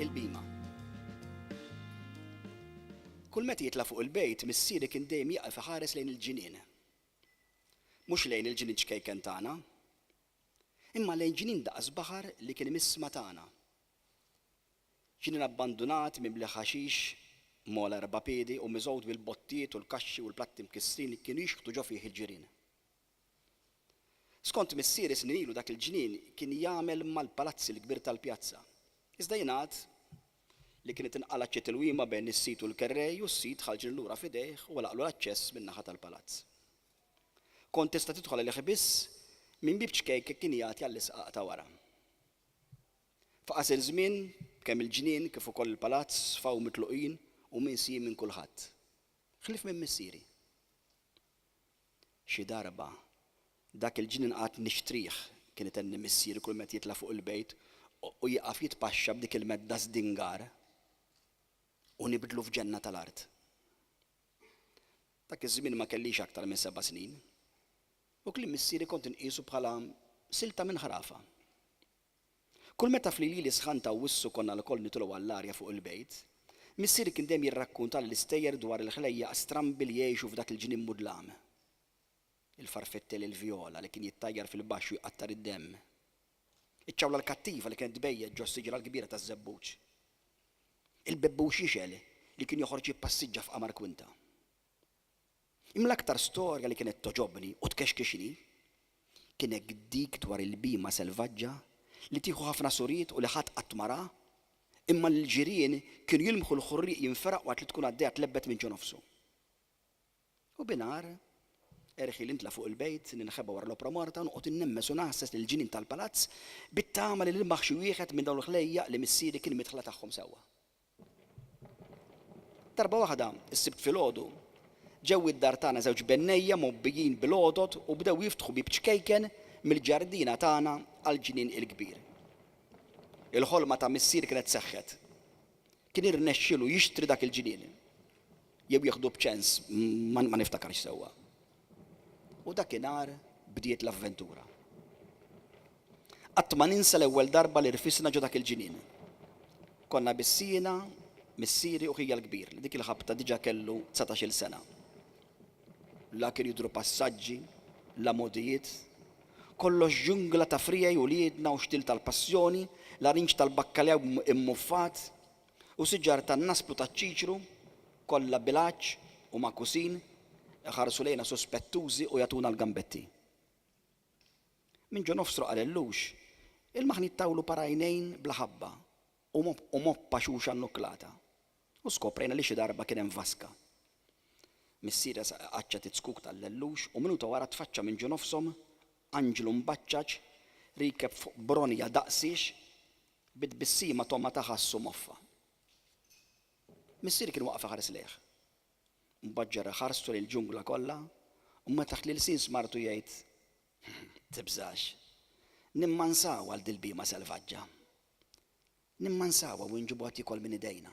Il-bima. Kull meta jitla' fuq il-bejt, missieri kien dejjem jieqaf iħares lejn il-ġinien. Mhux lejn il-ġinien ċkejken tagħna. Imma lejn ġinien daqs baħar li kien imiss matana. Ġinien abbandunat, mimli ħaxix, mogħla erba' piedi u miżgħud bil-bottijiet u l-kaxxi u l-platti mkissrin li kienu jixħtu ġo fih il-ġirien. Skont missieri snin ilu dak il-ġnien kien jagħmel mal-palazzi l-kbir tal-pjazza. Iżda jingħad li kienet inqalgħet xi tilwima bejn is-sid u l-kerrej u s-sid ħa l-ġnien lura f'idejh u għalaqlu l-aċċess min-naħa tal-palazz. Kont tista' tidħol għalih biss minn bieb ċkejken kien jagħti għall-isqaq ta' wara. Fi qasir żmien kemm il-ġnien kif ukoll il-palazz sfaw mitluqin u minsijin minn kulħadd. Ħlief minn missieri. Xi darba, dak il-ġnien qagħadt nixtrih, kien itenni missieri kull met jitla' fuq il-bejt, u jieqaf jitpaxxa b'dik il-medda żdingar, u nibdlu f'ġenna tal-art. Dak iż-żmien ma kellix aktar minn seba' snin, u kliem missieri kont inqisu bħala silta minn ħrafa. Kull meta f'lilieli sħan ta' Awwissu konna lkoll nitolgħu għall-arja fuq il-bejt, missieri kien dejjem jirrakkuntali l-istejjer dwar il-ħlejjaq strambi li jgħixu f'dak il-ġnien mudlam. Il-farfettel il-vjola li kien jittajjar fil-baxx u jqattar id-demm. Iċ-ċawla l-kattiva li kienet tbejjet ġo s-siġra l-kbira taż-żebbuġ. Il-bebbux jixgħel li kien joħroġ jippassiġġa f'qamar kwinta. Imma l-aktar storja li kienet togħġobni u tkexkixni kienek dik dwar il-bhima selvaġġa li tieħu ħafna suriet u li ħadd qatt ma ra, imma li l-ġirien kienu jilmħu l-ħurrieq jinferaq waqt li tkun għaddejja tlebbet minn ġo nofsu. U binhar, erħieli nitla' fuq il-bejt, ninħeba wara l-opra morta u noqgħod innemmes u ngħasses lill-ġinien tal-palazz bit-tama li nilmaħ xi wieħed minn dawn il-ħlejjaq li missieri kien midħla tagħhom sewwa. Darba waħda, is-Sibt filgħodu, ġew id-dar tagħna żewġ bennejja mgħobbijin bil-għodod u bdew jiftħu bieb ċkejken mill-ġardina tagħna għall-ġnien il-kbir. Il-ħolma ta' Missier kienet seħħet. Kien irnexxielu jixtri dak il-ġnien. Jew jieħdu b'ċens, ma niftakarx sewwa. U dakinhar bdiet l-avventura. Qatt ma ninsa l-ewwel darba li rfisna ġo dak il-ġinien. Konna biss jiena, missieri u ħija l-kbir li dik il-ħabta diġà kellu dsatax-il sena. La kienu jidhru passaġġi, la mogħdijiet. Kollox ġungla ta' friegħi uliedna u xtil tal-passjoni, larinġ tal-bakkaljaw immuffat, U siġar tan-nasp u taċ-ċiċru, kollha bil-għatx u magħkusin, iħarsu lejna suspettużi u jagħtuna l-gambetti. Minn ġo nofs troqal il-lux, il-maħniet tawlu parajnejn bla ħabba u moppa xuxa nnuklata. U skoprejna li xi darba kien hemm vaska. Missiera qaċċat iz-zkuk tal-lellux u minuta wara tfaċċa minn ġo nofshom anġlu mbaċċaġ riekeb fuq bronja daqsiex Bi tbissima togħma ta' ħassu moffa. Missieri kien waqaf iħares lejh. Mbagħad ġarrah ħarstu lejn il-ġungla kollha u meta taħt l-ilsien smartu jgħid, Tibżax. Nimmansawha għal dil-bhima selvaġġa. Nimmansawha u nġibuha tiekol minn idejna.